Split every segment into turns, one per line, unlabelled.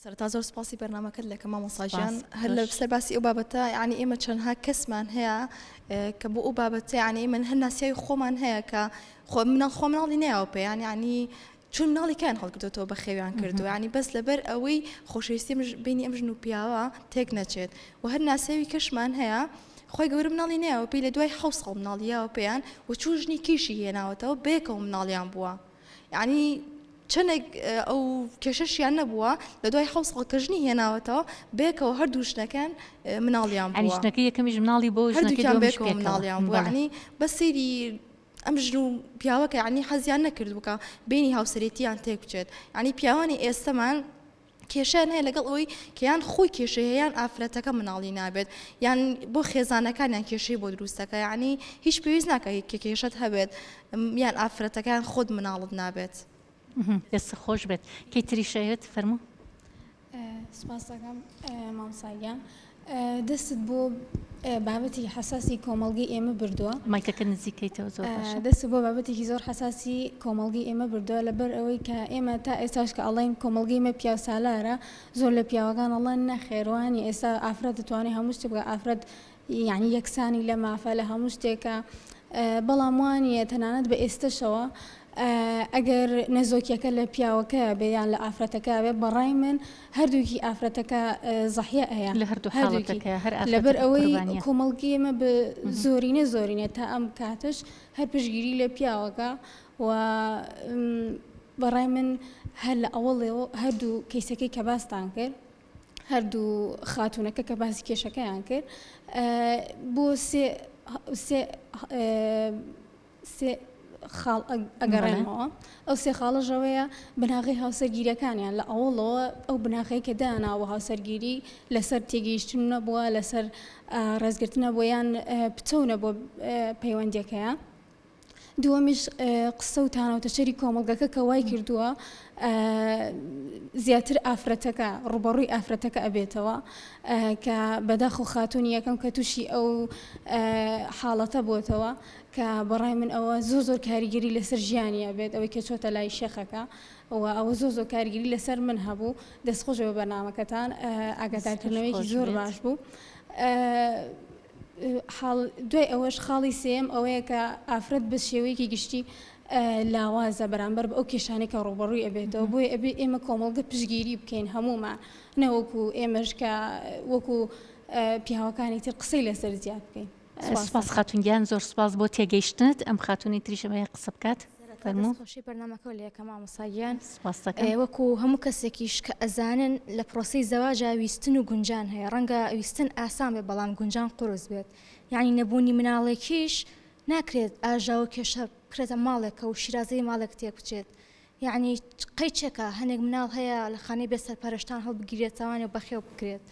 سەرەتا زۆر سپاسی بەرنمەکەت لەکە مامۆساژیان هەر لە سەر باسی ئەو بابەتە ینی ئێمە چەندها کەسمان هەیە کە بۆ ئەو بابەتە ینی من هەر ناسیاوی خۆمان هەیە کە خۆ منە خۆ مناڵی ناوە پێیان ینی چون ناڵی کان هەڵکردێتەوە بە خێویان کردو ینی بەس لەبەر ئەوەی خۆشەویستی بینی ئەم ژن و پیاوە تێک نەچێت و هەر ناسیاوی کەشمان هەیە خۆی گەورە مناڵی ناوە پێی لە دوای حوسڵ مناڵیاوە پێیان و چوو ژنی کیشی هێناوەتەوە بێکەوە مناڵیان بووە. یانی چەنێک ئەو کێشەشیان نەبووە لە دوای حەوت ساڵ کە ژنی هێناوەتەوە بەیەکەوە هەردوو ژنەکەن مناڵیان بووە یانی ژنەکەی یەکەمیش مناڵی
بۆ ژنەکەی هەردووکیان دووەمیش بەیەکەوە پێکەوە مناڵیان
بووە بەڵێ یانی بەس سەیری ئەم ژن و پیاوەکە یانی حەزیان نەکردوو کە بەینی هاوسەرێتییان تێک بچێت یانی پیاوانی ئێستەمان کێشەیان هەیە لەگەڵ ئەوەی کە یان خۆی کێشەی هەیە یان ئافرەتەکە مناڵی نابێت یان بۆ خێزانەکانیان کێشەی بۆ دروستەکە یعنی هیچ پێویست ناکە هیچ کە کێشت هەبێت یان ئافرەتەکان خۆت مناڵت نابێت دەست
خۆش بێت کەی تریشەوێت فەرمو
سپاسەکەم مامساگیان دەستت بۆ بابەتێکی حەساسی کۆمەڵگەی ئێمە بردووە. مایکەکە نزیکەیتەوە
زۆر باشە. دەستت بۆ بابەتێکی زۆر
حەساسی کۆمەڵگەی ئێمە بردووە لەبەر ئەوەی کە ئێمە تا ئێستاش کە ئەڵێن کۆمەڵگەی ئێمە پیاوسالارە زۆر لە پیاوەکان ئەڵێن نەخێر وا نییە ئێستا ئافرەت دەتوانێت هەموو شتێک بکات ئافرەت یەعنی یەکسانی لە مافە لە هەموو شتێکە بەڵام وا نییە تەنانەت بە ئێستەشەوە ئەگەر نەزۆکیەکە لە پیاوەکەیە بێ یان لە ئافرەتەکە بێ بە ڕای من هەردووکی ئافرەتەکە زەحیە ئەیا لە هەردوو حاڵەتەکە
هەر لەبەر ئەوەی
کۆمەڵگی ئمە بە زۆرینە زۆرینە تا ئەم کاتش هەر پشگیری لە پیاوەکە و بەڕای من هەر لە ئەوەڵێەوە هەردوو کەیسەکەی کە باستان کرد هەردوو خاتونەکە کە باسی کێشەکەیان کرد بۆ سێ سێ خاڵ ئەگەڕێنمەوە، ئەو سێ خاڵەش ئەوەیە بناغەی هاوسەرگیریەکانیان لە ئەوەڵەوە ئەو بناغەیە کە دانا بۆ هاوسەرگیری لەسەر تێگەیشتن نەبووە لەسەر ڕێزگرتنە بۆ یان پتەونە بۆ پەیوەندیەکەیە. دووەمیش قسە و تانەوتەچەری کۆمەڵگەکە کە وای کردووە زیاتر ئافرەتەکە ڕوبەڕووی ئافرەتەکە ئەبێتەوە کە بەداخ و خاتونی یەکەم کە تووشی ئەو حاڵەتە بووتەوە کە بەڕای من ئەوە زۆر زۆر کاریگەری لەسەر ژیانی ئەبێت ئەوەی کە چۆتە لای شێخەکە و ئەوە زۆر زۆر کاریگەری لەسەر من هەبوو دەست خۆش بە بەرنمەکەتان ئاگادارکردنەوەیکی زۆر باش بوو دوای ئەوەش خاڵی سێم ئەوەیە کە ئافرەت بە شێوەیەکی گشتی لاوازە بەرامبەر بە ئەو کێشانێکە ڕوبەڕووی ئەبێتەوە بۆی ئەبێ ئێمە کۆمەڵگە پشگیری بکەین هەمومان نەوەکو ئێمەش کە وەکو پیاوەکانی تر قسەی لەسەر زیاد بکەین سوپاس خاتون
گیان زۆر سوپاس بۆ تێگەیشتنت ئەم خاتونی تریشە بەیە قسە بکات فەرمووشی
بەرنمەکە لە یەکە مامۆساگیان وەکو
هەموو کەسێکیش
کە ئەزانن لە پرۆسی زەواجا ویستن و گونجان هەیە ڕەنگە ویستن ئاسان بێ بەڵام گونجان قرس بێت یعنی نەبوونی مناڵێکیش ناکرێت ئاژاوە کێشە بکرێتە ماڵێکە و شیرازەی ماڵێک تێک بچێت یەعنی قەی چەکە هەنێک مناڵ هەیە لە خانەی بێ سەرپەرشتان هەڵبگیرێتەوانێ و بەخێو بکرێت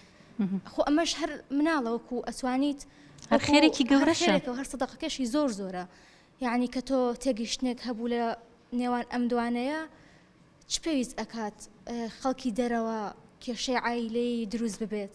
خۆ ئەمەش هەر مناڵەوەکو ئەتوانیت هەر خێرێکی
گەورەشێکەوە هەر سەدەقەکەشی
زۆر زۆرە یعنی کە تۆ تێگەیشتنێک هەبوو لە نێوان ئەم دوانەیە چ پێویست ئەکات خەڵکی دەرەوە کێشەی عیلەی دروست ببێت.